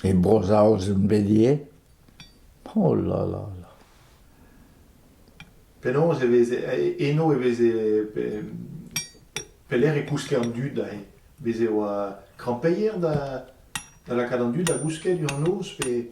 E Bro-Saoz int bet ivez ? Oh là là là ! Penaos e veze, eno e veze, pelec'h e kousker an dud aze ? Veze e oa krampeier da, da lakaat an dud da gousket en noz pe ?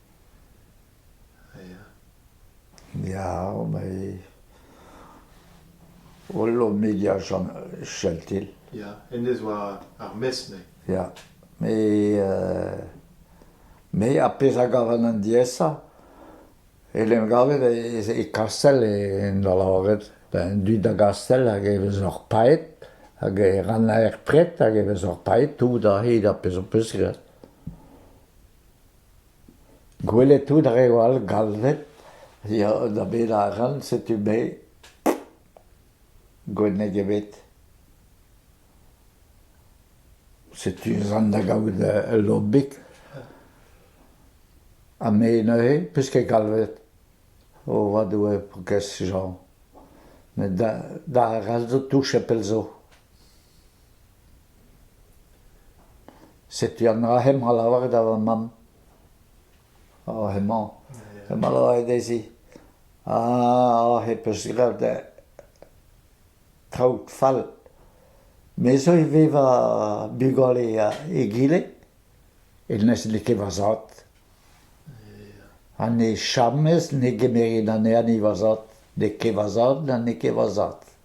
Ya, mae o media Cheltil. Ya, hennezh oa ar mes, me. Ya, me euh, me ar pezh a gavan an diaesa, el em gavet e, Kastel en da lavaret. Ben, du da Gastel hag e vez ur paet, hag e ran er pret hag e vez ur paet tout da hed a pezh o peus graet. Gwelet out reoù all galvet ya da bet a ran setu bet gwenneg ebet. Setu ez an da gaout ul lobig ha me neuze peus ket galvet o oadoù e pokez Jean met da razh zo touch e pell zo. Setu an dra hemañ lavaret da va mamm. Oh hemañ, hemañ lavaret dezhi, ah he peus graet traoù fall. Me zo ivez va bugale egile e n'eus ket va zad. Ha ne chames ne gemeret anezhañ ni va zad, n'eo ket va zad na n'eo ket va zad.